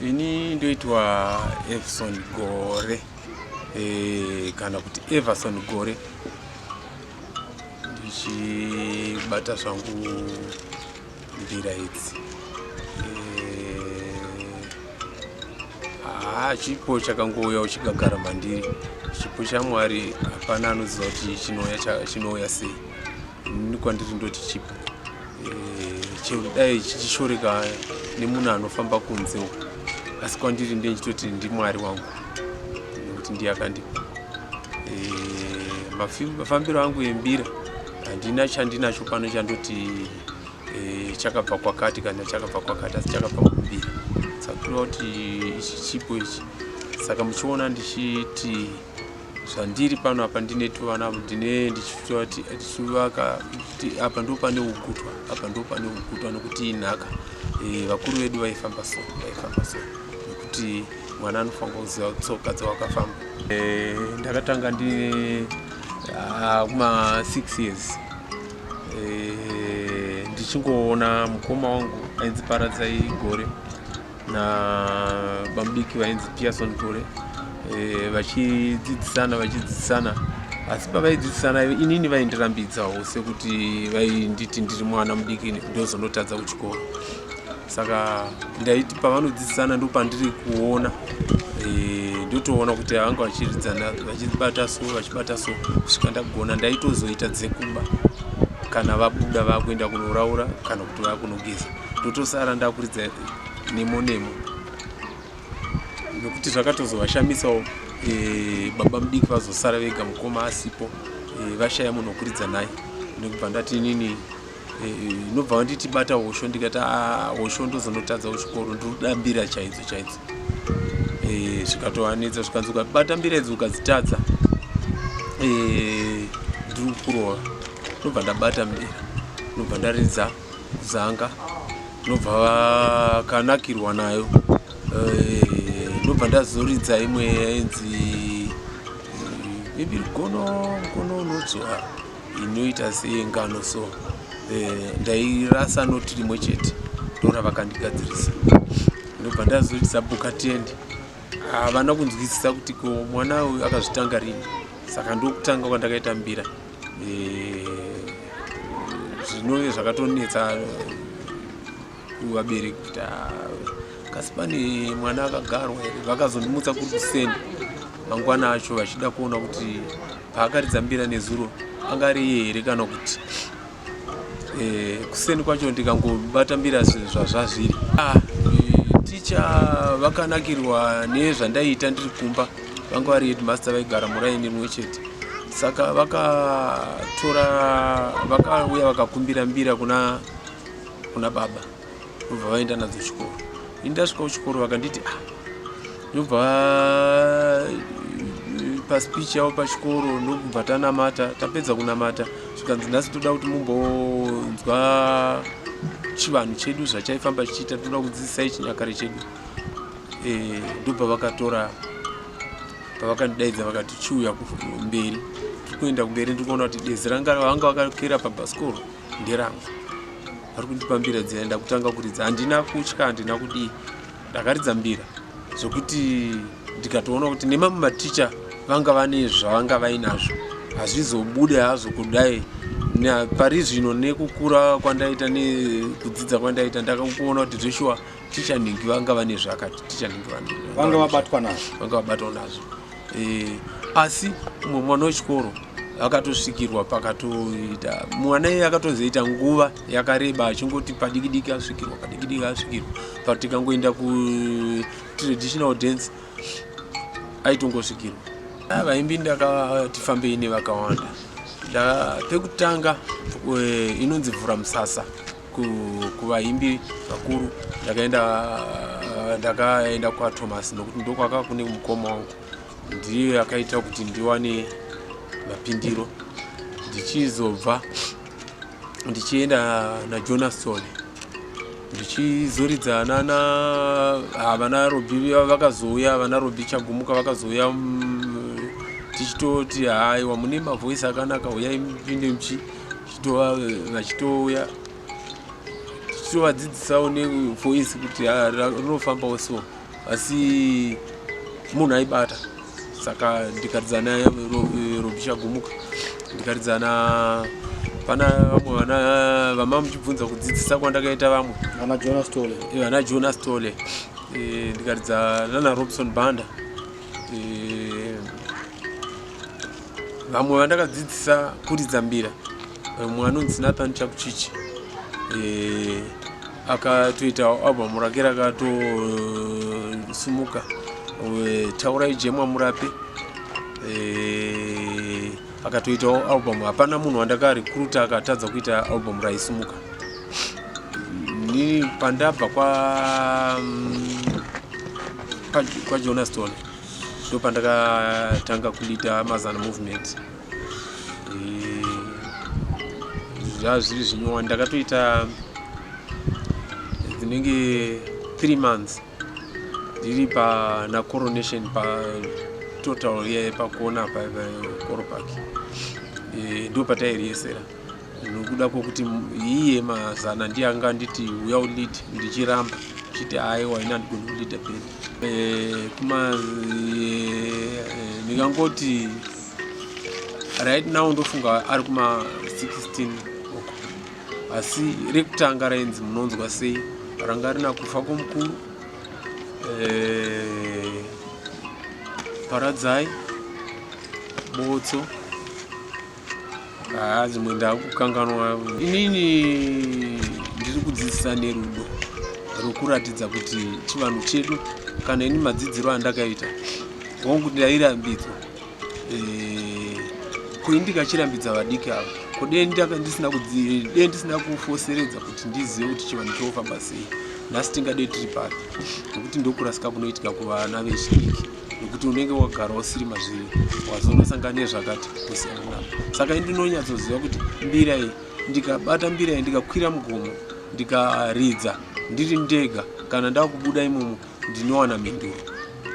ini ndoitwa everson gore e, kana kuti everson gore ndichibata zvangu mbira idzi haa eh, chipo chakangouya uchigagara mandiri chipo chamwari hapana anoziva kuti chinouya chinouya sei ini kwandiri ndoti chipo eh, chero dai chichishoreka nemunhu anofamba kunze uko asi kwandiri ndiye ndichitoti ndimwari wangu nekuti ndiye akandipa eh, mafambiro angu embira handina chandinacho pano chandoti e, chakabva kwakati kana chakabva kwakati asi chakabva kubira sakutoona kuti ichi chipo ichi saka muchiona ndichiti zvandiri pano apa ndine tuvana ndine ndichitoa kuti tichivaka kuti apa ndo pane ugutwa apa ndo pane ugutwa nokuti inhaka e, vakuru vedu vaifamba so vaifamba so nekuti mwana anofanira kuziva tsoka dzawakafamba e, ndakatanga ndine ah, kuma uh, six years eh, ndichingoona mukoma wangu ainzi paradzai gore nabamudiki vainzi pearson gore eh, vachidzidzisana vachidzidzisana asi pavaidzidzisana inini vaindirambidzawo sekuti vainditi ndiri mwana mudiki ndozonotadza kuchikoro saka ndaiti pavanodzidzisana ndo pandiri kuona eh, ndotoona kuti vanga vachiridzana vachibata so vachibata so kusvika ndagona ndaitozoita dzekuba kana vabuda vakuenda kunoraura kana kuti vakunogeza ndotosara ndakuridza nemo nemo nekuti zvakatozovashamisawo eh, baba mudiki vazosara vega mukoma asipo eh, vashaya munhu wokuridza naye nekubva ndati inini inobva wanditi bata hosho ndikati ah, hosho ndozonotadza kuchikoro ndinoda mbira chaidzo chaidzo eh, zvikatoanetsa zvikanzi ukabata mbira idzi ukadzitadza eh, ndiri kurova ndinobva ndabata mbira ndinobva ndaridza kuzanga ndinobva vakanakirwa nayo eh, ndinobva ndazoridza imwe yainzi ibiri gono gono unodzora inoita seyengano so eh, ndairasa noti rimwe chete ndora vakandigadzirisa ndobva ndazoti zabuka tiende havana kunzwisisa kuti ko mwana uyu akazvitanga rini saka ndokutanga kwandakaita mbira eh, zvinove zvakatonetsa vabereki kuti kasi pane mwana akagarwa here vakazondimutsa kuri kuseni mangwana acho vachida kuona kuti paakaridza mbira nezuro anga ari iye here kana kuti eh, kuseni kwacho ndikangobata mbira zvazvazviri ah, eh, ticha vakanakirwa nezvandaiita ndiri kumba vanga vari headmaster vaigara muraini rimwe chete saka vakatora vakauya vakakumbira mbira kuna kuna baba ndobva vaenda nadzo chikoro ini ndasvika kuchikoro vakanditi ah ndobva eh, paspeech yavo pachikoro ndokubva tanamata tapedza kunamata zvikanzi nhasi toda kuti mumbonzwa chivanhu chedu zvachaifamba chichiita toda kudzidzisai chinyakare chedu eh, ndobva vakatora pavakandidaidza vakati chiuya mberi tiri kuenda kumberi ndiri kuona kuti dezi ranga vanga vakakera pabhasikoro nderangu vari kundipa mbira dzina ndakutanga kuridza handina kutya handina kudii ndakaridza mbira zvekuti ndikatoona kuti nemamwe maticha vanga vane zvavanga vainazvo hazvizobude hazvo kudai pari zvino nekukura kwandaita nekudzidza kwandaita ndakakuona kuti zveshuwa ticha nhingi vanga vane zvakati ticha nhingi vanga vabatwa nazvo vanga vabatwa nazvo e, asi umwe mwana wechikoro akatosvikirwa pakatoita mwana iye akatozoita nguva yakareba achingoti padikidiki asvikirwa padikidiki asvikirwa but tikangoenda kutraditional dance aitongosvikirwa ah, vaimbi ndakati fambei nevakawanda pekutanga eh, inonzi vhura musasa kuvaimbi vakuru ndakaenda ndakaenda kwathomas nokuti ndokwaka kune mukoma wangu ndiyo yakaita kuti ndiwane mapindiro ndichizobva ndichienda najonas sole ndichizoridza nana havana robi vakazouya vana robi chagumuka vakazouya mm, tichitoti haiwa mune mavoisi akanaka huyai mupinde muchi titova vachitouya tichitovadzidzisawo nevoisi kuti ah, rinofambawo so asi munhu aibata saka ndikaridzana robisha gumuka ndikaridzana pana vamwe vana vama muchibvunza kudzidzisa kwandakaita vamwe vana jonas tole vana jonas tole eh, ndikaridza nana robson banda eh, vamwe vandakadzidzisa kuridza mbira mumwe anonzi nathan chakuchichi eh, akatoitawo album rake rakatosumuka eh, taurai jemwa murape eh, akatoitawo album hapana munhu wandakarekruta akatadza kuita album raisumuka ni pandabva kwa mm, kwa Jonah Stone ndopandakatanga kulida mazana movement zvaa zviri zvinyowani ndakatoita dzinenge three months ndiri pana coronation pa total ye pakuona pa koropak eh, ndo patairiyesera nokuda kwokuti iye mazana ndiye anga anditi uya ulide ndichiramba chiti aiwa ini andigoni kulida pedi eh, kuma eh, ndingangoti right now ndofunga ari kuma 16 oko asi rekutanga rainzi munonzwa sei ranga rina kufa kwomukuru eh, paradzai botso haa dzimwe ndakukanganwa inini ndiri kudzidzisa nerudo rwekuratidza kuti chivanhu chedu kana ini madzidziro andakaita hongu kuti ndairambidzwa eh, koi ndikachirambidza vadiki avo kodei ndisina kufoseredza kuti ndizive kuti chivanhu chofamba sei nhasi tingadei tiri papi nekuti ndokurasika kunoitika kuvana vechidiki nekuti unenge wagara usiri mazviri wazonosangana nezvakati kusiyana navo saka indinonyatsoziva kuti mbira iyi ndikabata mbira iyi ndikakwira mugomo ndikaridza ndiri ndega kana ndava kubuda imomo ndinowana mhinduro